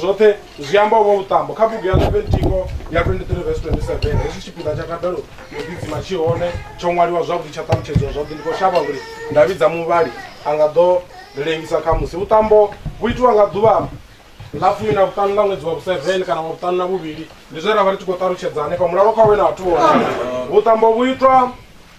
zwoṱhe zwi amba u vha vhuṱambo kha bugu ya leventiko ya 23 vs 27 hezwi tshipiḓa tsha kadalo yo ḓidzima tshi hone tsho ṅwaliwa zwavhuḓi tsha ṱalutshedziwa zwavhuḓi ndi khou shavha uri nda vhidza muvhali a nga ḓo ri lengisa kha musi vhuṱambo vhu itiwa nga ḓuvha ḽa fumi na vhuṱanu ḽa ṅwedzi wa vhu-seven kana wa vhuṱanu na vhuvhili ndi zwe ra vha ri tshi khou ṱalutshedza hanefha mulalo kha we na vhathu vhona vhuṱambo vhu itwa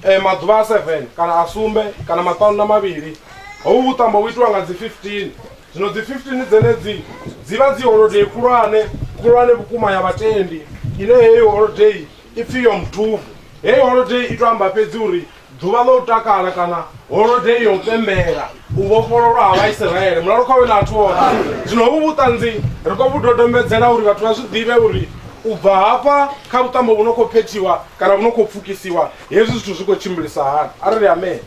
eh, maḓuvha a seven kana a sumbe kana maṱanu na mavhili hovhu vhuṱambo vhu itiwa nga dzi 15 zwino dzi 15 dzenedzi dzi vha dzi holodei khulwane khulwane vhukuma ya vhatendi ine heyo holodei i pfi yom thuvu heyo holodei i to amba fhedzi uri ḓuvha ḽa u takala kana holodei ya u pembela u vhofhololwa ha vhaisiraele mulalo kha we na athu ona zwino hovhu vhuṱanzi ri khou vhu dodombedzela uri vhathu vha zwi ḓivhe uri u bva hafha kha vhuṱambo vhu no khou phethiwa kana vhu no khou pfukisiwa hezwi zwithu zwi khou tshimbilisa hani arali amen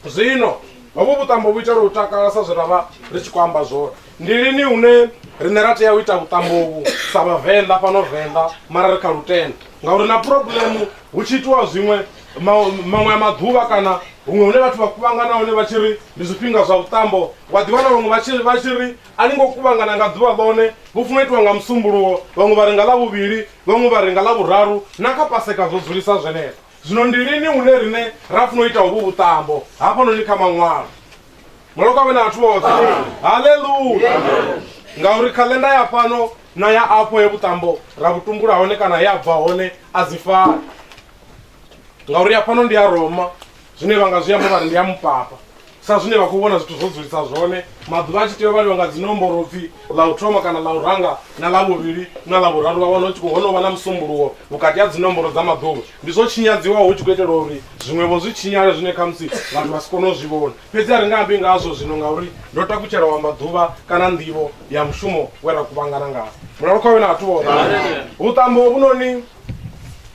zwino hovhu vhuṱambo vhu itela u takala sa zwe ra vha ri tshi khou amba zwone ndi lini hune riṋe ra tea u ita vhuṱambo vhu sa vhavenḓa fhano venḓa mara ri kha lutendo ngauri na problemu Hu tshi itiwa zwiṅwe maṅwe a maḓuvha kana huṅwe hune vhathu vha kuvhangana hone vha tshi ri ndi zwifhinga zwa vhuṱambo, wa ḓiwana vhaṅwe vha tshi vha tshi ri a ni ngo kuvhangana nga ḓuvha ḽone, vhu funa itiwa nga Musumbuluwo, vhaṅwe vha ri nga Ḽavhuvhili, vhaṅwe vha ri nga Ḽavhuraru, na kha Paseka zwo dzulisa zwenezwo. Zwino ndi lini hune riṋe ra funa u ita hovhu vhuṱambo? Hafhanoni kha Maṅwalo. Malokwane na vhathu vhoṱhe. Haleluya! Ngauri khaḽenda ya fhano na ya afho he vhuṱambo ra vhu tumbula hone kana he a bva hone a dzi fani ngauri ya fhano ndi ya roma zwine vha nga zwi amba vhari ndi ya mupapa sa zwine vha khou vhona zwithu zwo dzulisa zwone maḓuvha a tshi tea u vhaliwa nga dzinomboro pfhi ḽa u thoma kana ḽa u ranga na ḽa vhuvhili na ḽa vhuraru vha wana hu tshi khou hono vha na musumbuluwo vhukati ha dzinomboro dza maḓuvha ndi zwo tshinyadziwaho hu tshi khou itelwa uri zwiṅwevho zwi tshinyale zwine khamusi vhathu vha si kone u zwi vhona Fhedzi a ri nga ambi ngazwo zwino ngauri ndo takutshela u amba ḓuvha kana nḓivho ya mushumo we ra kuvhangana ngawo. Mulalo kha wena athu woṱhe. Vhuṱambo hovhunoni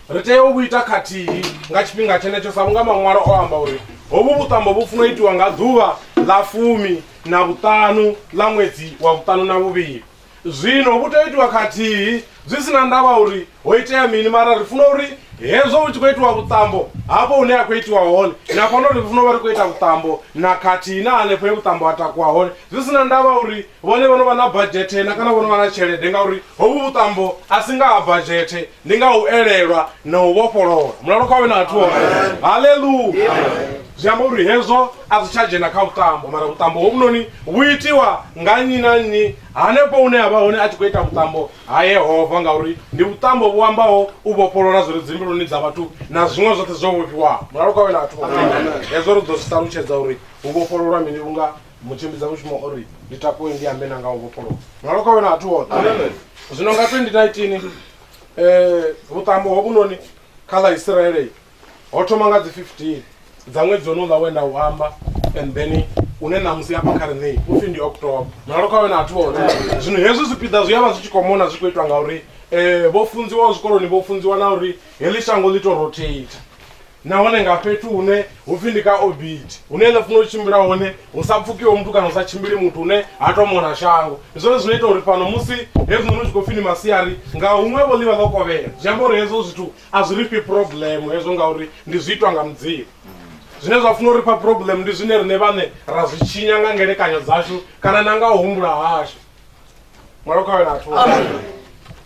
ri tea u vhu ita khathihi nga tshifhinga tshenetsho sa vhunga maṅwalo o amba uri hovhu vhuṱambo vhu funa itiwa nga ḓuvha ḽa fumi na vhuṱanu ḽa ṅwedzi wa vhuṱanu na vhuvhili. Zwino vhu tea u itiwa khathihi, zwi si na ndavha uri ho itea mini, mara ri funa uri hezwo hu tshi khou itiwa vhuṱambo, hafho hune ha khou itiwa hone, ni a kona uri ri funa u vha ri khou ita vhuṱambo na khathihi na hanefho he vhuṱambo ha takuwa hone, zwi si na ndavha uri vhone vho no vha na badzhethe na kana vho no vha na tshelede, ngauri hovhu vhuṱambo a si nga ha badzhethe, ndi nga ha u elelwa na u vhofholowa. Mulalo kha u vhe na vhathu vhoṱhe. Haleluya! Zwi amba uri hezwo A zwi tsha dzhena kha vhuṱambo, mara vhuṱambo hovhunoni vhu itiwa nga nnyi na nnyi hanefho hune a vha hone a tshi khou ita vhuṱambo ha Yehova, ngauri ndi vhuṱambo vhu ambaho u vhofholola zwi re dzimbiluni dza vhathu na zwiṅwe zwoṱhe zwo vhofhiwaho. Mulalo kha wena vhathu vha hezwo ri ḓo zwi ṱalutshedza uri hu vhofhololwa mini vhunga mutshimbidza mushumo o ri ndi takuwe ndi ambe na nga u vhofholowa. Mulalo kha wena vhathu vhoṱhe. Zwino nga 2019 vhuṱambo hovhunoni kha ḽa Isiraele ho thoma nga dzi 15 dza ṅwedzi ono ḽa wenda u amba and then une ṋamusi afha kha riṋei upfhi ndi october mulalo kha wena athu one zwino hezwi zwipiḓa zwi ya vha zwi tshi khou mona zwi khou itwa nga uri um vho funziwaho zwikoloni vho funziwa na uri heḽi shango ḽi to rotate nahone nga fhethu hune hu pfhi ndi ka obit hune ḽa funa u tshimbila hone hu sa pfukiwe muthu kana hu sa tshimbili muthu hune ha to mona shango zwone zwino ita uri fhano musi hezwinoni zwi khou pfhi ni masiari nga huṅwe vho ḽivha ḽo kovhela zwi amba uri hezwo zwithu A zwi ri fhi problem hezwo ngauri ndi zwi itwa nga Mudzimu. Zwine zwa funa uri fha problem ndi zwine rine vhane ra zwi tshinya nga ngelekanyo dzashu kana na nga u humbula hashu. Mwalo khawe na thu.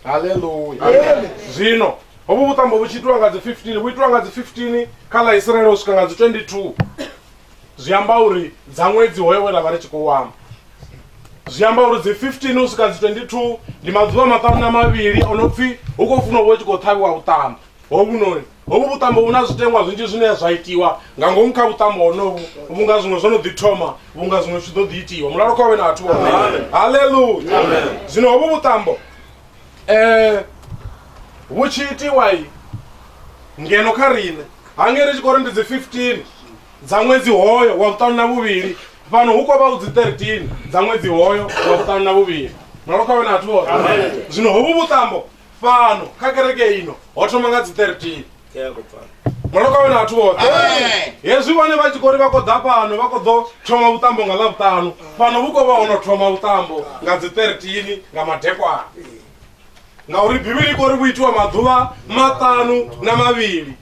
Hallelujah. Zwino hovhu vhuṱambo vhu tshi itiwa nga dzi 15 vhu itiwa nga dzi 15 kha ḽa Isiraele u swika nga dzi 22. zwi amba uri dza ṅwedzi hoyo we ra vha ri tshi khou amba zwi amba uri dzi 15 u swika dzi 22 ndi maḓuvha maṱanu na mavhili o no pfhi hu khou funa u vha tshi khou ṱhavhiwa vhuṱambo hovhunoni hovhu vhuṱambo hu na zwitengwa zwinzhi zwine zwa itiwa nga ngomu kha vhuṱambo honovhu vhunga zwiṅwe zwo no ḓi thoma vhunga zwiṅwe zwi tshi ḓo ḓi itiwa mulalo khovhe na vhathu vhone halleluya zwino hovhu vhuṱambo um vhu tshi itiwa ngeno kha riṋe ha ngei ri tshi khou ri ndi dzi 15 dza ṅwedzi hoyo wa vhuṱanu na vhuvhili fhano hu khou vha u dzi 13 dza ṅwedzi hoyo wa vhuṱanu na vhuvhili nolo kha wena athu hoṱhe zwino hovhu vhuṱambo fhano kha kereke ino ho thoma nga dzi 13 nolo kha wena athu hoṱhe hezwi vhone vha tshi khou ri vha khou ḓa fhano vha khou ḓo thoma vhuṱambo nga ḽa vhuṱanu fhano vhu khou vha ho no thoma vhuṱambo nga dzi 13 nga madekwana ngauri bivhili i kori vhu itiwa maḓuvha maṱanu na mavhili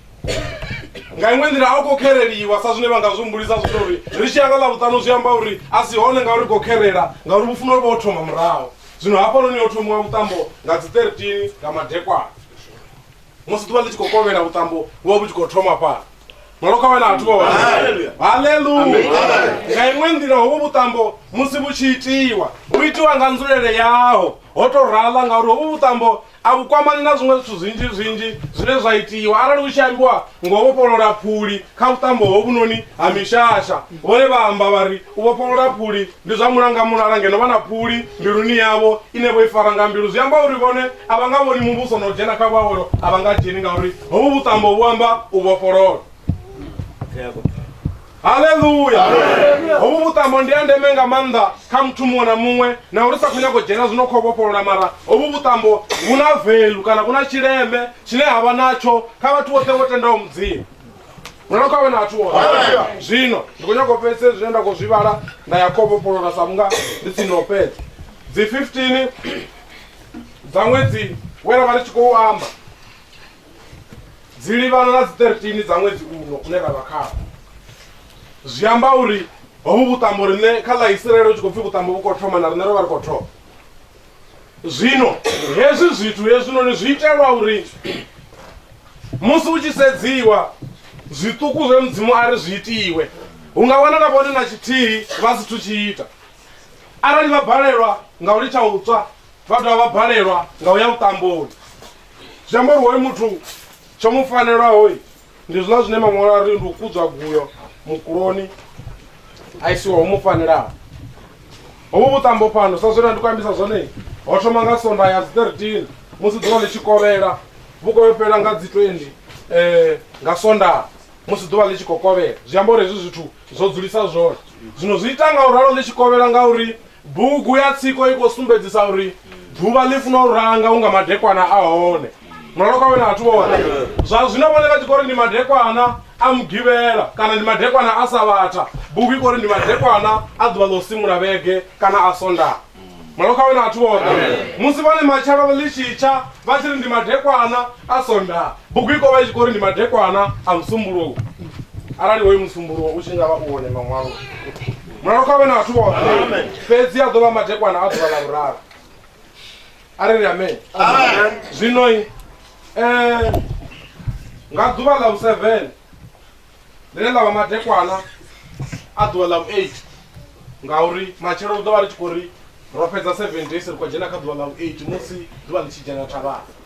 nga iṅwe nḓila a u khou khereliwa sa zwine vha nga zwi humbulisa zwithu uri ri tshi ya nga ḽa vhuṱanu zwi amba uri a si hone ngauri khou kherela ngauri vhu funa uri vho thoma muraho zwino hafhanoni yo thomiwa vhuṱambo nga dzi 13 nga madekwana musi ḓuvha ḽi tshi khou kovhela vhuṱambo vhu vha vhu tshi khou thoma fhala malo kha wena athu vha haleluya nga iṅwe nḓila hovhu vhuṱambo musi vhu tshi itiwa vhu itiwa nga nzulele yaho ho to rala ngauri hovhu vhuṱambo a vhu kwamani na zwiṅwe zwithu zwinzhi zwinzhi zwine zwa itiwa arali hu tshi ambiwa ngo vhofholola phuli kha vhuṱambo hovhunoni ha mishasha vhone vha amba vha ri U vhofholola phuli ndi zwa mulangamulala ngeno vha na phuli mbiluni yavho ine vho i fara nga mbilu. Zwi amba uri vhone a vha nga vhoni Muvhuso na u dzhena kha vhuawelo a vha nga dzheni ngauri hovhu vhuṱambo vhu amba u vhofholola. Haleluya! Hovhu vhuṱambo ndi ha ndeme nga maanḓa kha muthu muṅwe na muṅwe na uri sa khou nyaga u dzhena zwino kha u vhofholola mara hovhu vhuṱambo vhu na velu kana vhu na tshileme tshine ha vha natsho kha vhathu vhoṱhe vho tendaho Mudzimu. mwana wako awe na athu ona zwino ndi khou nyanga u fhedzise zwine nda khou zwi vhala nda ya khou vhofholola sa vhunga ndi tsini u fhedza dzi 15 dza ṅwedzi we ra vha ri tshi khou amba dzi livhana na dzi 13 dza ṅwedzi uno une ra vha khawo zwi amba uri hovhu vhuṱambo riṋe kha ḽa isiraele hu tshi khou pfhi vhuṱambo vhu khou thoma na riṋe ro vha ri khou thoma zwino hezwi zwithu hezwinoni zwi itelwa uri musi u tshi sedziwa zwiṱuku zwe mudzimu a ri zwi itiwe hu nga wana na vhone na tshithihi vha si thu tshi ita arali vha balelwa nga u litsha u tswa vha dovha vha balelwa nga u ya vhuṱamboni zwi amba uri hoyu muthu tsho mu fanelwaho Ndi zwiḽa zwine maṅwalo a ri ndi u kudzwa guyo mukuloni a isiwa ho mu fanelaho. Hovhu vhuṱambo fhano sa zwena ndi khou ambisa zwone ho thoma nga sonda ya dzi 13 musi ḓuvha ḽi tshi kovhela vhu khou fhela nga dzi 20 eh nga sonda musi ḓuvha ḽi tshi khou kovhela zwi amba uri hezwi zwithu zwo dzulisa zwone zwino zwi ita nga u ralo ḽi tshi kovhela nga uri Bugu ya tsiko i khou sumbedzisa uri ḓuvha ḽi funa u ranga unga madekwana a hone. Mulalo kwawe na vhathu vhoṱhe. Zwa zwino vhone vha tshi khou ri ndi madekwana a Mugivhela kana ndi madekwana a Savhatha, bugu i khou ri ndi madekwana a ḓuvha ḽa u simula vhege kana a Sondaha. Mulalo kwawe na vhathu vhoṱhe. Musi vhone matshelo ḽi tshi tsha vha tshi ri ndi madekwana a Sondaha, bugu i khou vha i tshi khou ri ndi madekwana a Musumbuluwo, arali hoyu Musumbuluwo u tshi nga vha u hone Maṅwaloni. mulalo kha vhe na vhathu vhoṱhe fhedzi a ḓo vha madekwana a ḓuvha ḽa vhuraru a ri ri amen zwinoi um nga ḓuvha ḽa vhu-seven ḽine ḽa vha madekwana a ḓuvha ḽa vhu-eight ngauri matshelo u ḓo vha ri tshi khou ri ro fhedza seven days ri khou dzhena kha ḓuvha ḽa vhu-eight musi ḓuvha ḽi tshi dzhena thavhana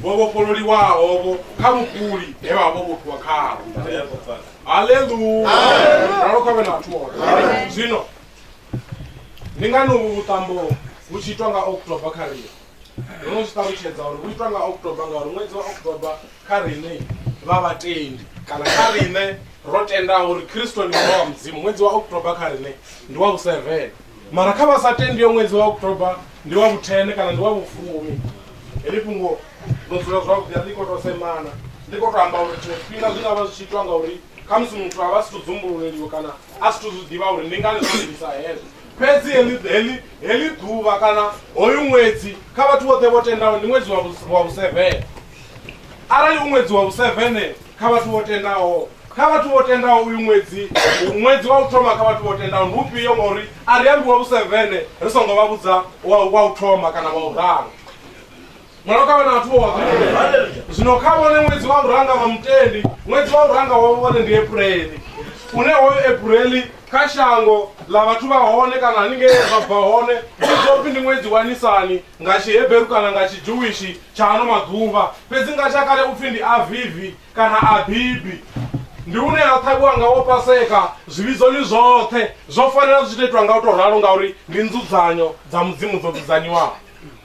vho vhofhololiwaho-vho kha vhukuli he vha vha vho vhofhiwa khaho haleluya ralo kha vhe na vhathu vhoṱhe zwino ndi ngani uvhu vhuṱambo vhu tshi itwa nga october kha rine ndo no zwi ṱalutshedza uri vhu itwa nga october ngauri ṅwedzi wa october kha rine vha vhatendi kana kha rine ro tendaho uri kristo ndi mwana wa mudzimu ṅwedzi wa october kha rine ndi wa vhusevene mara kha vha sa tendi yo ṅwedzi wa october ndi wa vhuthene kana ndi wa vhufumi heḽi fhungo ḽo dzula zwavhuḓi a ḽi kho to semana ḽi kho to amba uri tshiṅwe tshifhinga zwi nga vha zwi tshi itwa ngauri khamusi muthu a vha si to dzumbululeliwa kana a si to zwi ḓivha uri ndi ngani zwo livhisa hezwo fhedzi heḽi heḽi heḽi ḓuvha kana hoyu ṅwedzi kha vhathu vhoṱhe vho tendaho ndi ṅwedzi wa vhusevene Arali u ṅwedzi wa vhusevene kha vhathu vho tendaho, kha vhathu vho tendaho uyu ṅwedzi, ṅwedzi wa u thoma kha vhathu vho tendaho ndi ufhio? Ngauri a ri ambi wa vhusevene ri songo vha vhudza wa u thoma kana wa u ralo. Mwalo kha vha na vhathu vho wa zwino kha vhone ṅwedzi wa u ranga vha mutendi, ṅwedzi wa u ranga wa vhone ndi Epureḽi, une hoyo Epureḽi kha shango ḽa vhathu vha hone kana haningei zwa bva hone ndi ḓopfi ndi ṅwedzi wa Nisani. Nga Tshihebheru kana nga Tshidzhuwishi tsha ano maḓuvha, fhedzi nga tsha kale u pfi ndi Avivi kana Abibi, ndi hune ha ṱhavhiwa ngawo Paseka zwivhidzoni zwoṱhe. Zwo fanela zwi tshi tou itwa nga u tou ralo ngauri ndi nzudzanyo dza Mudzimu dzo dzudzanyiwaho.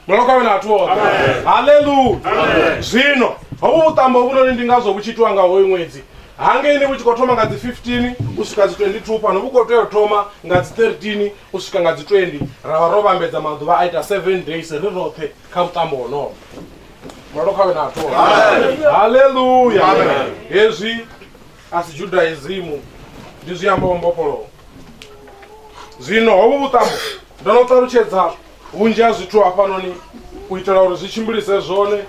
Mulalo kha vhe na vhathu vhoṱhe. Haleluya! Zwino hovhu vhuṱambo hovhunoni ndi ngazwo vhu tshi itiwa nga hoyu ṅwedzi. Hangeini vhu tshi khou thoma nga dzi 15 u swika dzi 22, fhano vhu khou tea u thoma nga dzi 13. U swika nga dzi 20 ra vha ro vhambedza maḓuvha a ita 7 days ri roṱhe kha mutambo wonowo mulalo khawe na athu haleluya hezwi a si judaisimu ndi zwi ambaho mbofholowo zwino hovhu vhuṱambo ndo no ṱalutshedza vhunzhi ha zwithu hafhanoni u itela uri zwi tshimbilise zwone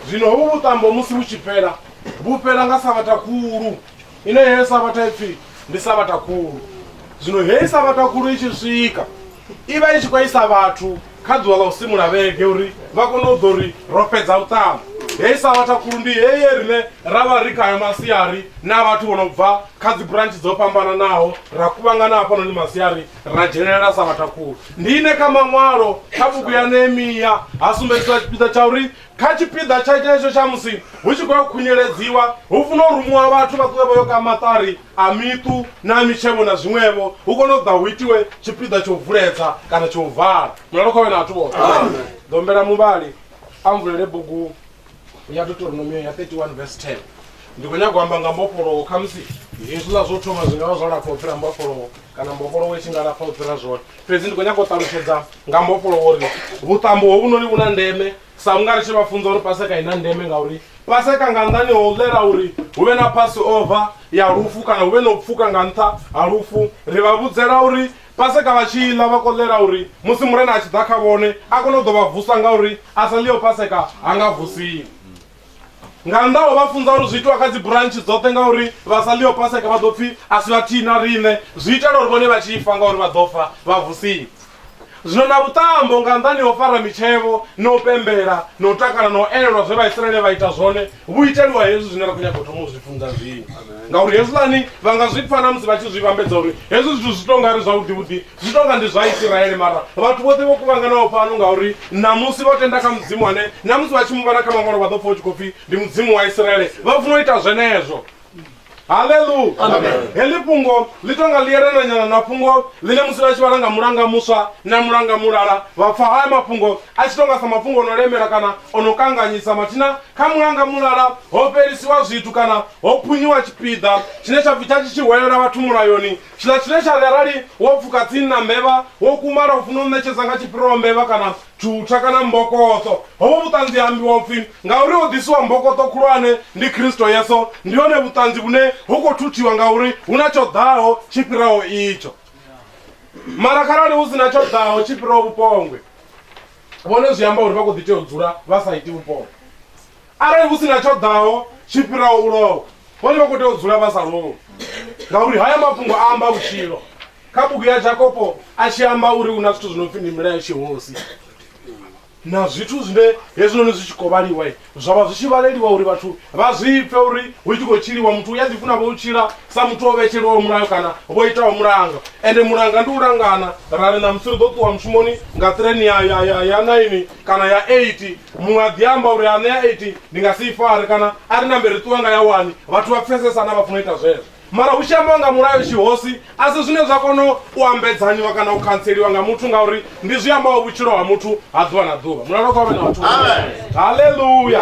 zwino hovhu vhuṱambo musi vhu tshi fhela vhu fhela nga sabatha khulu ine heyo sabatha ipfi ndi sabatha khulu zwino heyi sabatha khulu i tshi swika i vha i tshi khou isa vhathu kha ḓuvha ḽa u simula vhege uri vha kone u ḓo ri ro fhedza u ṱamba heyi sabatha khulu ndi heye rine ra vha ri khayo masiari na vhathu vho no bva kha dzi branch dzo fhambananaho ra kuvhangana hafhanoni masiari ra dzhenelela sabatha khulu ndi ine kha maṅwalo kha bugu ya nehemiya ha sumbedziswa tshipiḓa tsha uri Kha tshipiḓa tsha tshenetsho tsha musi hu tshi khou ya u khunyeledziwa, hu funa u rumuwa vhathu vha ṱuwe vha yo ka maṱari a miṱu na mitshevho na zwiṅwevho, hu kone u ḓa hu itiwe tshipiḓa tsha u vuledza kana tsha u vala. Mulalo kha vhe na vhathu vhoṱhe. Ḓombela muvhali a mvulele bugu ya Deuteronomio ya 31 verse 10. Ndi khou nyaga u amba nga mbofholowo, khamusi hezwiḽa zwo thoma zwi nga vha zwo lapfa u fhira mbofholowo. kana mbofholowo i tshi nga lafha u fhira zwone fhedzi ndi khou nyanga u ṱalutshedza nga mbofholowo uri vhuṱambo hovhunoni vhu na ndeme sa vhunga ri tshi vha funza uri paseka i na ndeme ngauri paseka nga nnḓani ho ḽela uri hu vhe na pasi ova ya lufu kana hu vhe na u pfuka nga nṱha ha lufu ri vha vhudzela uri paseka vha tshi ḽa vha koḽela uri musi murena a tshi ḓa kha vhone a kone u ḓo vha vusa ngauri a sa ḽiyo paseka ha nga vusiwi nga nnḓa ho vha funza uri zwi itiwa kha dzi burantshi dzoṱhe ngauri vha sa ḽio paseka vha ḓo pfhi a si vhathihi na riṋe zwi itela uri vhone vha tshi fa ngauri vha ḓo fa vha vusiwa zwino na vhuṱambo nga nnḓani ho fara mitshevho na u pembela na u takala na u elelwa zwe vhaisraele vha ita zwone vhu iteliwa hezwi zwine ra khou nyaga u thoma u zwi funza zwino ngauri hezwiḽani vha nga zwi pfa na musi vha tshi zwi vhambedza uri hezwi zwithu zwi tou nga ri zwavhuḓivhuḓi zwi tonga ndi zwa isiraele mara vhathu vhoṱhe vho kuvhanganaho fhano ngauri namusi vha tenda kha mudzimu ane namusi vha tshi mu vhana kha mangwalo vha ḓo pfa u tshi khou pfi ndi mudzimu wa isiraele vha funa u ita zwenezwo haleluya heḽi fhungo ḽi tonga ḽi yelananyana na fhungo ḽine musi vha tshi vhala nga mulanga muswa na mulanga mulala vha pfa haya mafhungo a tshi tonga sa mafhungo o no lemela kana o no kanganyisa mathina kha mulanga mulala ho fhelisiwa zwithu kana ho phunyiwa tshipiḓa tshine tsha pfi tsha tshi tshi hwelela vhathu mulayoni Tshiḽa tshine tsha ri arali wo pfuka tsini na mbevha, wo kumala u funa u ṋetshedza nga tshipiro mbevha kana tshutsha kana mbokoṱo. Hovho vhuṱanzi ha ambiwa u pfi, Ngauri ho ḓisiwa mbokoṱo khulwane, ndi Kristo Yesu, ndi hone vhuṱanzi vhune ho khou thuthiwa ngauri hu na tsho ḓaho tshi fhiraho itsho. Mara kharali hu si na tsho ḓaho tshi fhiraho vhupongwe, vhone zwi amba uri vha khou ḓi tea u dzula vha sa iti vhupongwe. Arali hu si na tsho ḓaho tshi fhiraho u lovha, vhone vha khou tea u dzula vha sa lovhi. Ngauri haya mafhungo a amba vhutshilo. Kha bugu ya Jakopo a tshi amba uri hu na zwithu zwi no pfi ndi milayo tshihosi na zwithu zwine hezwinoni zwi tshi khou vhaliwa zwa vha zwi tshi vhaleliwa uri vhathu vha zwi pfe uri hu tshi khou tshiliwa muthu u a ḓifuna vho u tshila sa muthu o vhetshelwaho mulayo kana vho itaho mulanga ende mulanga ndi u langana ra ri ṋamusi ri ḓo ṱuwa mushumoni nga ṱireni ya ya ya ya naini kana ya eight muṅwe a ḓi amba uri anea 80 ndi nga si i fare kana a ri nambe ri ṱuwa nga ya wani vhathu vha pfesesana vha funa ita zwezwo mara hu tshi ambiwa nga mulayo tshihosi a si zwine zwa kona u ambedzanyiwa kana u khantseliwa nga muthu ngauri ndi zwi ambaho vhutshilo ha muthu ha ḓuvha na ḓuvha mulalo kha vhe na vhathu halleluya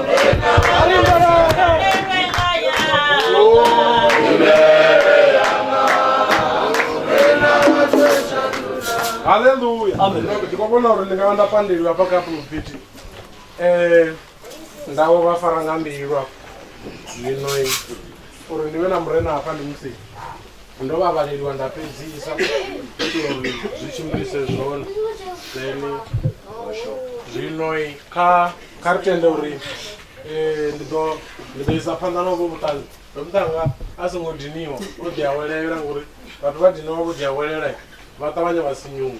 haleluya ndi khou vhona uri ndi nga vha nda pandeliwa hafha kha pulpiti um ndawo vha fara nga mbilu afho zwino uri ndi vhe na murena hafha ndi musi ndo vha vhaleliwa nda fhedzisa itela uri zwi tshimbilise zwone then zwino kha kha ri tende uri eh, ndi ḓo ndi ḓo isa phanḓa na uvho vhuṱanzi vhemutanga a songo diniwa o ḓi awelela ngori vhathu vha diniwa vho ḓi awelela vha ṱavhanya vha sinyuwa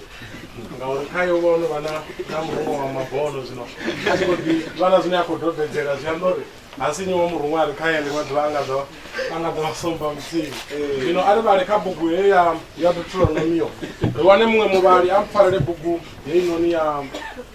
ngauri kha yo vhono vha na na murungo wa mabono zwino a tshi khou ḓi vha na zwine a khou dobedzela zwi amba uri ha sinyuwa murungo a ri kha yele maḓuvha a nga ḓo a nga ḓo vha somba muthihi zwino a ri vhale kha bugu heyo ya ya deuteronomio ri wane muṅwe muvhali a mpfarele bugu heinoni ya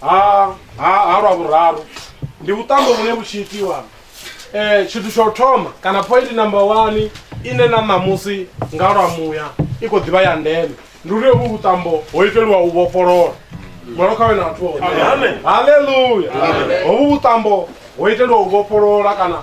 ha ha ha lwa vhuraru ndi vhuṱambo vhune vhu tshi itiwa eh tshithu tsha u thoma kana point number 1 ine na ṋamusi nga lwa muya i khou ḓivha ya ndeme ndi uri vhu vhuṱambo ho iteliwa u vhofholola mwalo kha wena vhathu haleluya hovhu vhuṱambo ho iteliwa u vhofholola kana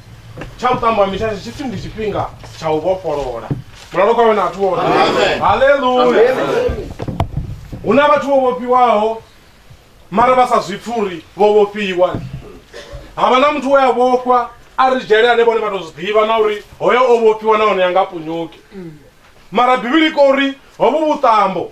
tsha vhuṱambo ha mishasha tshipfi ndi tshifhinga tsha u vhofholola mulalo kwawe na athu wote haleluya hu na vhathu vho vhofhiwaho mara vha sa zwi pfi uri vho vhofhiwa ha vha na muthu we a vhofhwa a ri dzhele ane vhone vha tou zwi ḓivha na uri hoyo o vhofhiwa nahone ya nga punyuki mara bivhili i kori hovhu vhuṱambo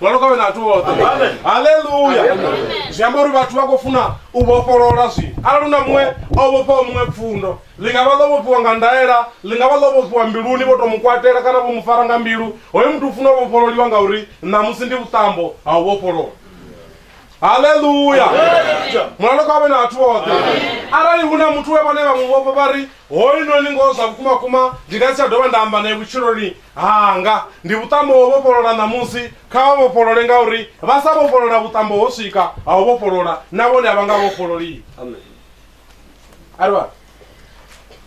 vha loka wena vhathu vhoṱhe Amen. haleluya zwi amba uri vhathu vha khou funa u vhofholola zwino arali una muṅwe o vhofhaho muṅwe pfundo ḽi nga vha ḽo vhofhiwa nga ndaela ḽi nga vha ḽo vhofhiwa mbiluni vho to mu kwatela kana vho mu fara nga mbilu hoyo muthu u funa u vhofhololiwa ngauri ṋamusi ndi vhuṱambo ha u vhofholola haleluya mulalo kha vhe na vhathu vhoṱhe arali hu na muthu we vhane vha mu vhofha vha ri hoyunoni ngoho zwa vhukuma kuma ndi nga si tsha dovha nda amba naye vhutshiloni hanga ndi vhuṱambo ho vhofholola ṋamusi kha vha vhofholole ngauri vha sa vhofholola vhuṱambo ho swika ha u vhofholola na vhone a vha nga vhofhololiwi amen a ri vha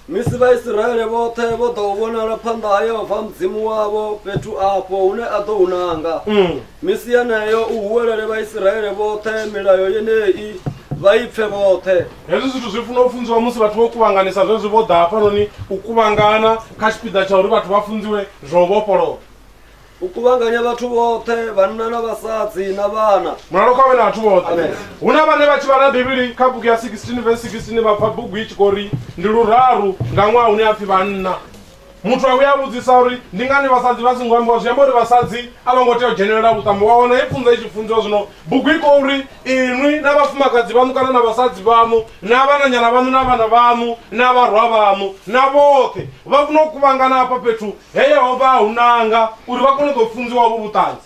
misi vhaisiraele vhoṱhe vho ḓa u vhonala phanḓa ha yehova mudzimu wavho fhethu afho hune a ḓo hunanga mm. misi yeneyo u huwelele vhaisiraele vhoṱhe milayo yenei vha i pfe vhoṱhe hezwi zwithu zwi funa u funziwa musi vhathu vho kuvhanganisa zwezwi vho ḓa hafhanoni u kuvhangana kha tshipiḓa tsha uri vhathu vha funziwe zwa u vhofholowa u kuvhanganya vhathu vhoṱhe vhanna na vhasadzi na vhana mulalo kha vhe na vhathu vhoṱhe Amen. hu na vhane vha tshi vhala bivhili kha bugu ya 16 vhe 16 vha pfa bugu i tshi khou ri ndi luraru nga ṅwaha hune a pfhi vhanna Muthu a vhuya a vhudzisa uri ndi ngani vhasadzi vha songo ambiwa, zwi amba uri vhasadzi a vho ngo tea u dzhenelela vhuṱambo. Wa wana he pfunzo i tshi funziwa, zwino bugu i khou ri, Inwi na vhafumakadzi vhaṋu kana na vhasadzi vhaṋu na vhananyana vhaṋu na vhana vhaṋu na vharwa vhaṋu na vhoṱhe vha funa u kuvhangana hafha fhethu he Yehova a hu nanga uri vha kone u ḓo funziwa hovhu vhuṱanzi.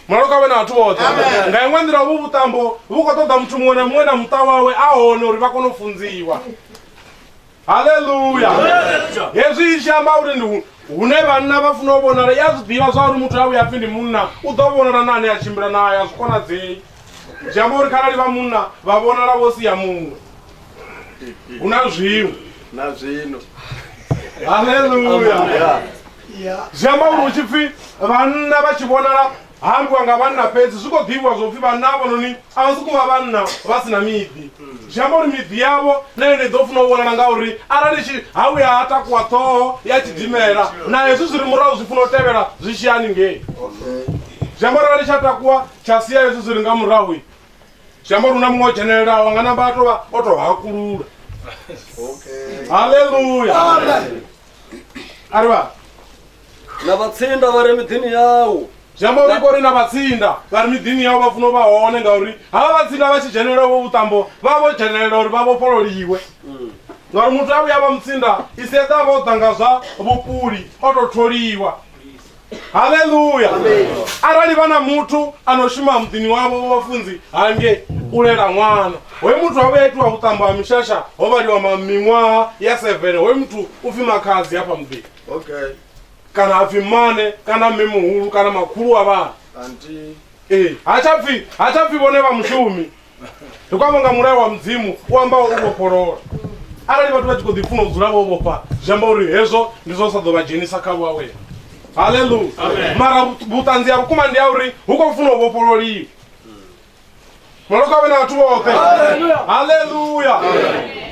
Mulalo kha vhe na vhathu vhoṱhe. Nga iṅwe nḓila, hovhu vhuṱambo vhu khou ṱoḓa muthu muṅwe na muṅwe na muṱa wawe a hone uri vha kone u funziwa. haleluya hezwi i tshi amba uri ndi hune vhanna vha funa u vhonala i a zwi ḓivha zwa uri muthu a vhuya pfhi ndi munna u ḓo vhonala na ane a tshimbila naye a zwi konadzei zwi amba uri kharali vha munna vha vhonala vho sia muṅwe hu na zwiṅwe na zwino haleluya zwi amba uri hu tshi pfhi vhanna vha tshi vhonala Ha ambiwa nga vhanna fhedzi, zwi khou ḓivhiwa zwo pfi vhanna hafhanoni a vha sokou vha vhanna vha si na miḓi. Zwi amba uri miḓi yavho na yone i ḓo funa u vhonala ngauri arali tshi ha vhuya ha takuwa ṱhoho ya tshidimela na hezwi zwi re murahu zwi funa u tevhela zwi tshi ya haningei. Zwi amba uri arali tsha takuwa tsha sia hezwi zwi re nga murahu, zwi amba uri hu na muṅwe o dzhenelelaho nga namba a tou vha o tou hakulula. Haleluya! A ri vha. na vhatsinda vha re miḓini yau zwi amba uri kori na vhatsinda vha ri miḓini yau vha funa u vha hone ngauri havha vhatsinda vha tshi dzhenelela vho vhuṱambo vha vho dzhenelela uri vha vhofhololiwe ngauri muthu a vhuya vha mutsinda i si eḓa vha o ḓa nga zwa vhupuli o tou tholiwa haleluya arali vha na muthu a no shuma muḓini wavho wa vhafunzi hange u lela ṅwana hoyu muthu a vhuya itiwa vhuṱambo ha mishasha ho vhaliwa ma- miṅwaha ya 7 hoyu muthu u pfi makhadzi hafha muḓini okay kana ha pfi mane kana mme muhulu kana makhulu wa vhana anti ee ha tsha pfi ha tsha pfi vhone vha mushumi ndi khou amba nga mulayo wa mudzimu u amba u vhofholola arali vhathu vha tshi khou ḓi funa u dzula vho vhofha zwi amba uri hezwo ndi zwo sa ḓo vha dzhenisa kha vhuawela haleluya mara vhuṱanzi ha vhukuma ndi ya uri hu khou funa u vhofhololiwa maloka vhe na vhathu vhoṱhe haleluya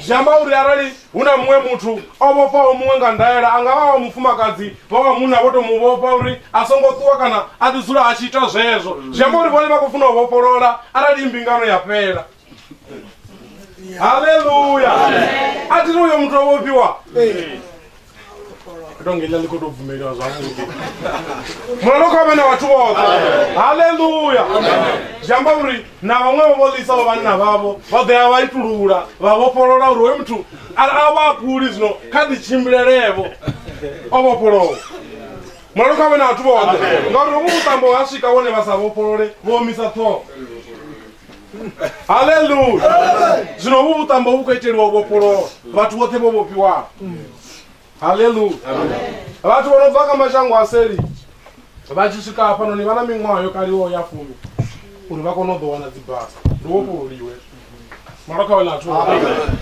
zwi amba uri arali hu na muṅwe muthu o vhofhaho muṅwe nga ndaela a nga vha wa mufumakadzi vha wa munna vho to mu vhofha uri a songo ṱuwa kana a ḓi dzula a tshi ita zwezwo zwi amba uri vhone vha khou funa u vhofholola arali mbingano ya fhela haleluya a thi ri uyo muthu o vhofhiwa tonge iḽa ḽi khou tou bvumeliwa zwavhuḓi mulalo kha vhe na vhathu vhoṱhe haleluya zwi amba uri na vhaṅwe vho vho ḽisaho vhanna vhavho vha ḓo ya vha itulula vha vhofholola uri hoyo muthu a vha akuli zwino kha ḓi tshimbilelevo o vhofholowa mulalo kha vhe na vhathu vhoṱhe ngauri hovhu vhuṱambo ha swika vhone vha sa vhofholole vho omisa ṱhoho haleluya zwino hovhu vhuṱambo vhu khou iteliwa u vhofholowa vhathu vhoṱhe vho vhofhiwaho haleluya vhathu vho no bva kha mashango a seli vha tshi swika hafhanoni vha na miṅwaha yo kaliwaho ya fumi uri vha kone u ḓo wana dzibasa ndi vhofhololiwe mara kha wena athu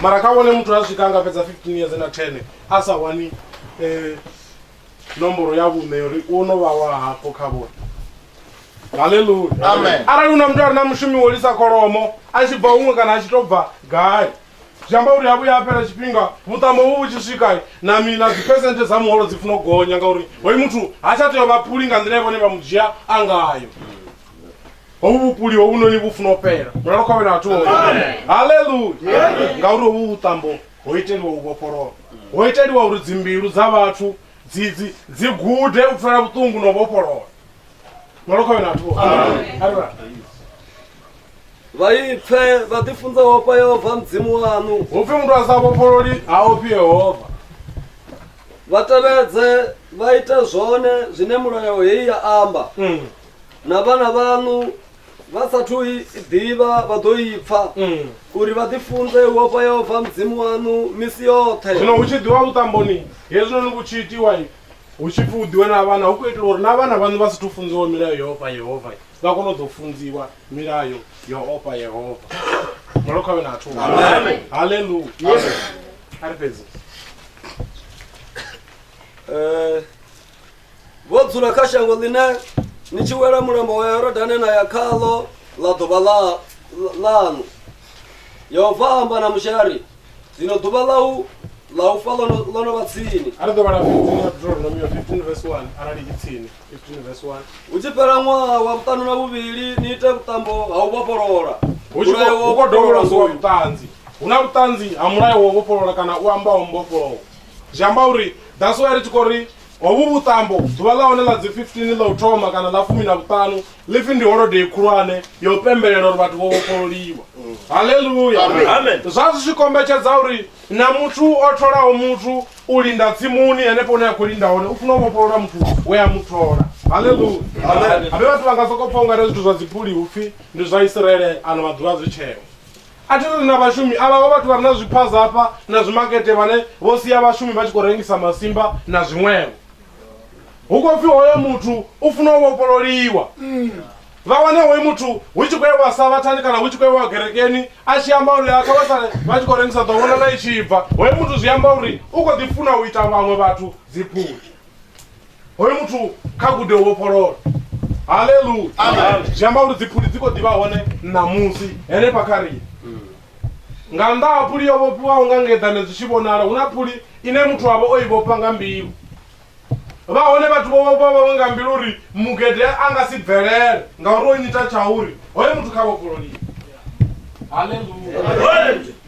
mara kha vhone muthu a swika a nga fhedza 15 years na 10 a sa wani eh, nomboro ya vhuṋe yori u no vha wa hafho kha vhone haleluya Amen. arali hu na muthu a re na mushumi wo lisa kholomo a tshi bva huṅwe kana a tshi tou bva gai zwi amba uri ha vhuya ha fhela tshifhinga vhuṱamo vhu vhu tshi swika na mi na dziphesenthe dza muholo dzi funa u gonya ngauri hoyu muthu ha tsha tea u vha phuli nga nḓila ye vhone vha mu dzhia a ngayo hovhu vhupuli hovhunoni vhu funa u fhela mulalo khovhela vhathu haleluya ngauri hovhu vhuṱambo ho iteliwa u vhofholowa ho iteliwa uri dzimbilu dza vhathu dzi dzi dzi gude u pfela vhuṱungu na u vhofholowa malokhoyo na athu arira vha ipfe vha ḓifunza ofha yehova mudzimu waṋu hupfi muthu a sa vhofhololi ha ofhi yehova vha tevhedze vha ite zwone zwine mulayo heyi ya amba na vhana vhaṋu vha sathu i ḓivha vha ḓo i pfa mm. uri vha ḓifunze u ofha yehova mudzimu waṋu misi yoṱhe zwino hu tshi ḓiwa vhuṱamboni hezwinoni vhu tshi itiwa hu tshi pfi u ḓiwe na vhana hu khou itela uri na vhana vhaṋu vha si thu funziwa milayo yo ofha yehova vha kone u ḓo funziwa milayo yo ofha yehova malo khavhe na athu haleluya a ri fhedzi eh, vho dzula kha shango ḽine ni tshi wela mulambo wa yorodane na ya khaḽo ḽa ḓuvha ḽaṋu yehova amba na mushe a ri zwino ḓuvha ḽau ḽa u fa ḽo no vha tsini a ri ḓo vhala deuteronomy 15 vs 1 arali i tsini 15 vs 1 hu tshi fhela ṅwaha wa vhuṱanu na vhuvhili ni ite vhuṱambo ha u vhofholola hu tshi khou dovholosiwa vhuṱanzi hu na vhuṱanzi ha mulayo wa u vhofholola kana u ambaho mbofholowo zwi amba uri that's why ri tshi khou ri hovhu vhuṱambo ḓuvha ḽa hone ḽa dzi 15 ḽa u thoma kana ḽa fumi na vhuṱanu ḽi pfi ndi holodei khulwane ya u pembelela uri vhathu vho vhofhololiwa halleluya Amen. zwa zwi tshi kombetshedza uri na muthu o tholaho muthu u linda tsimuni henefho hune a khou linda hone u funa u vhofholola muthu we a mu thola halleluya habe vhathu vha nga sokou pfa ungari zwithu zwa dzipuli hupfi ndi zwa isiraele ano maḓuvha zwi tsheo A thi ri ri na vhashumi, avha vho vhathu vha re na zwiphaza hafha na zwimakete vhane vho sia vhashumi vha tshi khou rengisa masimba na zwiṅwevho. Hu khou pfi hoyo muthu u funa u vhofhololiwa. Vha wane hoyu muthu hu tshi khou ewa Savhathani kana hu tshi khou ewa gerekeni a tshi amba uri kha vha sale vha tshi khou rengisa ḓo vhonala i tshi bva. Hoyo muthu zwi amba uri u khou ḓi funa u ita vhaṅwe vhathu dziphuli. hoyo muthu kha gude u vhofholola haleluya Amen. zwi amba uri dziphuli dzi khou ḓivha hone ṋamusi henefha kha riṋe nga nnḓa ha phuli yo vhofhiwaho nga ngeḓane zwi tshi vhonala hu na phuli ine muthu avha o i vhofha nga mbilu vha hone vhathu vho vhofha vhawe nga mbilu uri mugede a nga si bvelele ngauri o nyita tsha uri hoyo muthu kha vhofhololiwe haleluya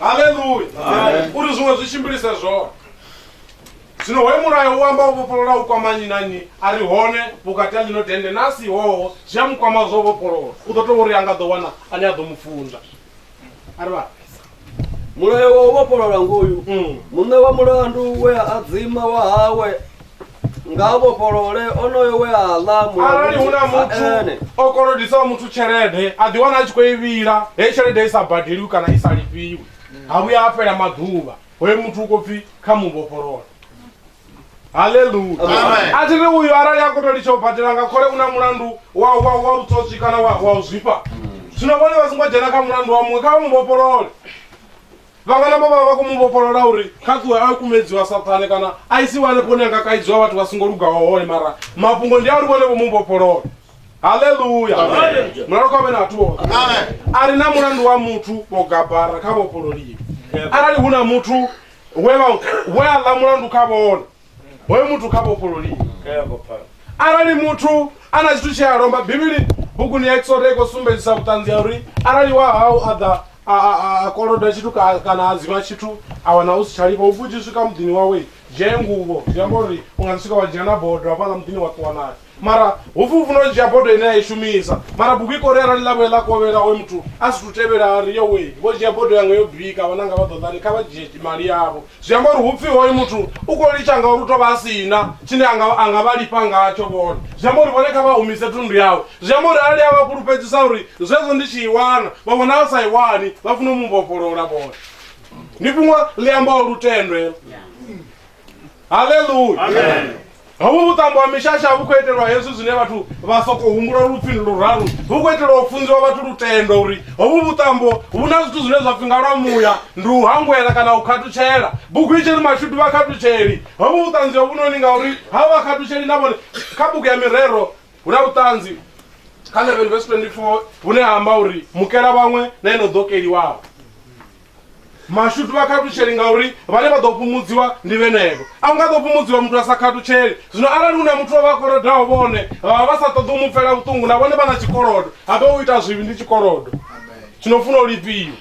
haleluya uri zwiṅwe zwi tshimbilise zwone zwino hoyu mulayo u amba u vhofholola u kwama nyi na nyi a ri hone vhukati ha ḽino dende na si hoho zwi a mu kwama zwo vhofholola u ḓo tou uri a nga ḓo wana ane a ḓo mu funza a ri vha mulayo wa u vhofholola ngoyu muṋe wa mulandu we a adzima wa hawe nga a vhofholole onoyo we a ḽa arali hu na muthu ene o kolodisaho muthu tshelede a ḓi wana a tshi khou i vhila heyi tshelede i sa badeliwi kana i sa lifhiwi ha vhuya ha fhela maḓuvha hoyo muthu u khou pfhi kha mu vhofholole haleluya Amen. a thi ri uyu arali a koto litsha u badela nga khole u na mulandu wa wa wa vhutswotswi kana wa wa u zwifha zwino vhone vha songo dzhena kha mulandu wa muṅwe kha vha mu vhofholole Vhangana vho vha vha khou mu vhofholola uri kha ṱuwe a kumedziwa Saṱhane kana a isiwe hanefho hune a nga kaidziwa vhathu vha songo lugaho hone mara mafhungo ndi a uri vhone vho mu vhofholola haleluya mulalo kha vhe na vhathu vhoṱhe a ri na mulandu wa muthu vho gabara kha vhofhololiwe arali hu na muthu we vha- we a ḽa mulandu kha vhone hoyo muthu kha vhofhololiwe arali muthu a na tshithu tshea lomba bivhili buguni ya exoda i khou sumbedzisa vhuṱanzi ya uri arali wa hau a ḓa a- a- a- a koloda tshithu ka- kana a dzima tshithu a wana u si tsha lifha u vhudziswi ka muḓini wawe dzhee nguvho zwi amba uri u nga ḓi swika wa dzhia na bodo hafhaḽa muḓini wa ṱuwa nayo mara hupfi u funa u dzhia bodo ine a i shumisa mara bugu i kori arali ḽavhuya ḽa kovhela oyo muthu a si tu tevhela a ri yo wei vho dzhia bodo yanga yo bika vhananga vha ḓoḓani kha vha dzhie mali yavho zwi amba uri hupfi hoyo muthu u khou litsha ngauri u tou vha a si na tshine a nga vha lifha ngatsho vhone zwi amba uri vhone kha vha humise thundu yawe zwi amba uri arali a vha fhulufhedzisa uri zwezwo ndi tshi i wana vha vhona a sa i wani vha funa u mu vhofholola vhone ndi fhungo ḽi ambaho lutendo helo haleluya hovhu vhuṱambo ha mishasha vhu khou itelwa hezwi zwine vhathu vha sokou humbula lupfhi ndi luraru vhu khou itelwa u funziwa vhathu lutendo uri hovhu vhuṱambo vhu na zwithu zwine zwa pfi nga lwa muya ndi u hangwela kana u khathutshela bugu i tshiri mashudu vha khathutsheli hovhu vhuṱanzi hovhunoni ngauri ha vha khathutsheli na vhone kha bugu ya mirero hu na vhuṱanzi kha 11 vesi 24 hune ha amba uri mukela vhaṅwe na ino ḓokeliwaho mashudu vha khathutsheli ngauri vhane vha ḓo fhumudziwa ndi vhenevho a u nga ḓo fhumudziwa muthu a sa khathutsheli zwino arali hu na muthu wa vha kolodaho vhone vha vha vha sa ṱoḓi u mu pfela vhuṱungu na vhone vha na tshikolodo habe u ita zwivhi ndi tshikolodo tshino funa u lifhiwa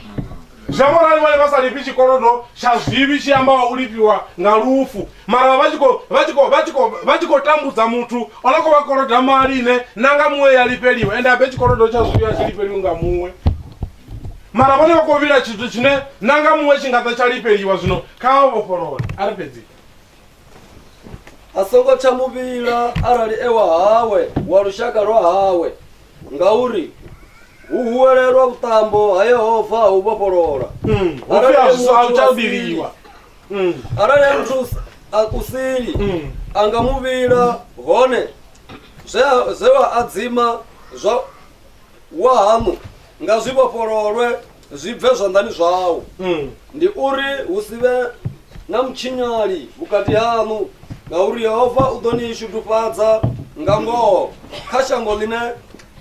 zwi amba uri vhone vha sa lifhi tshikolodo tsha zwivhi tshi ambaho u lifhiwa nga lufu mara vha tshi khou- vha tshi khou- vha tshi khou- vha tshi khou tambudza muthu o no khou vha koloda mali ine na nga muṅwe ya lifheliwa ende habe tshikolodo tsha zwivhi a tshi lifheliwi nga muṅwe mara vhone vha khou vhila tshithu tshine na nga muṅwe tshi nga ḓa tsha lifheliwa zwino kha vha vhofholole a ri fhedzi a songo tsha muvhila arali ewa hawe wa lushaka lwa hawe ngauri hu huwelelwa vhuṱambo ha yehova ha u vhofholola Mm, hu pfi a zwi sa- a zwi tsha vhiliwa Mm, arali a muthu a kusili mm. a nga muvhila hone zwe a- zwe wa adzima zwa wahaṋu nga zwi vhofhololwe zwi bve zwanḓani zwau ndi uri hu si vhe na mutshinyali vhukati haṋu ngauri yehova u ḓo ni shudufhadza nga ngoho kha shango ḽine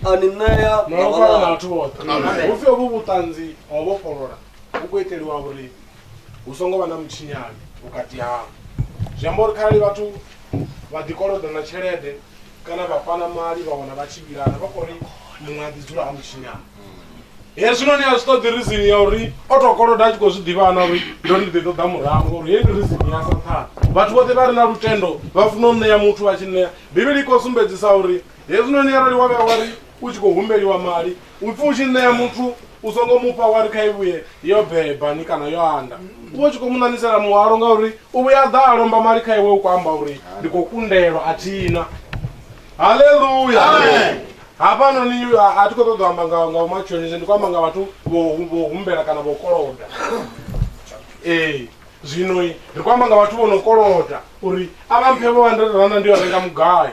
a ni ṋea na vhalala vhathu vhoṱhe hupfi ovhu vhuṱanzi ha u vhofholola vhu khou iteliwa uri hu songo vha na mutshinyani vhukati havho zwi amba uri kharali vhathu vha ḓikoloda na tshelede kana vha fana mali vha wana vha tshi vhilana vha khou ri muṅwe a ḓi dzula a mutshinyani hezwinoni a zwi ṱoḓi rizini ya uri o to koloda a tshi khou zwi ḓivhana uri ndo ndi ḓi ṱoḓa murahu ngori heyi ndi rizini ya sathana vhathu vhoṱhe vha re na lutendo vha funa u ṋea muthu vha tshi ṋea bivhili i khou sumbedzisa uri hezwinoni arali wa vhuya wa ri u tshi khou humbeliwa mali u pfhi u tshi ṋea muthu u songo mufha wa ri kha i vhuye yo beba ni kana yo anda u vha u tshi khou mu ṋanisela muhwalo ngauri u vhuya ḓa a lomba mali kha iwe u khou amba uri ndi khou kundelwa a thina haleluya hafhanoni a thi khou ṱoḓa u amba nga nga umatshonise ndi khou amba nga vhathu vho humbela kana vho koloda ee zwino ri khou amba nga vhathu vho no koloda uri a vha mphe vho handirerana ndi yo renga mugayo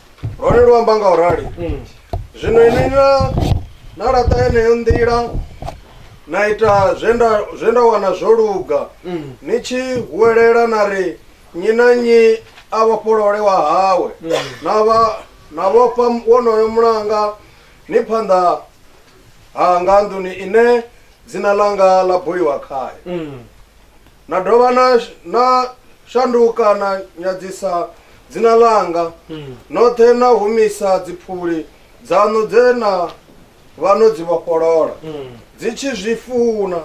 lwone lu amba nga u rali mm. zwino ini na na laṱa yeneyo nḓila na ita zwe nda zwe nda wana zwo luga mm. ni tshi huwelela na ri nyi na nyi a vhofholole wa hawe mm. na vha na vhofha wonoyo mulanga ni phanḓa ha nga nḓuni ine dzina ḽanga ḽa buliwa khayo Na dovha na, na shanduka na nyadzisa dzina ḽanga, noṱhe na humisa dziphuli dzaṋu dze na vha no dzi vhofholola dzi tshi zwi funa,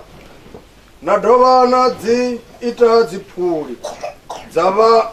na dovha na dzi ita dziphuli dza vha.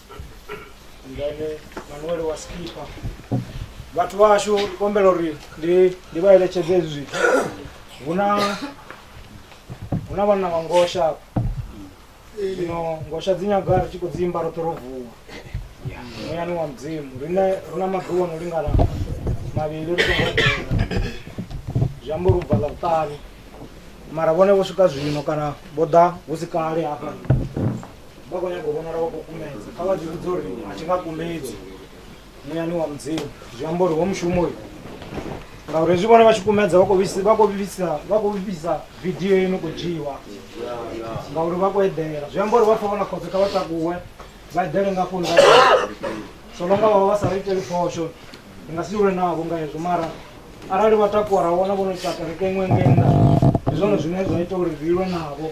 ngene manuele wa skipper vhathu vhashu ndi kombela uri ndi ndi vha eletshedze hezwi zwithu hu na hu na vhanna vha ngosha hafha. zwino ngosha dzi nyaga ri tshi khou dzi imba roṱhe ro vuwa muyani wa mudzimu rine ri na maḓuvha no lingana mavhili ri songo eḓela zwi amba uri u bva ḽa vhuṱanu mara vhone vho swika zwino kana vho ḓa hu si kale hafha vha khou nyaga u vhonala vha khou kumedza kha vha zwi vhudza uri a thi nga kumedzi muyani wa mudzimu zwi amba uri wo mushumo uyu ngauri hezwi vhone vha tshi kumedza vha khou vhisi- vha khou vhifhisa vha khou vhifhisa vidio ino khou dzhiwa ngauri vha khou eḓela zwi amba uri vha pfa vho na khotso kha vha takuwe vha eḓele nga foni so longa vhavha vha sa ri iteli phosho ndi nga si lwe navho nga hezwo mara arali vha takuwa ra vhona vho no ita kereke iṅwe ngei nnḓa ndi zwone zwine zwa ita uri ri lwe navho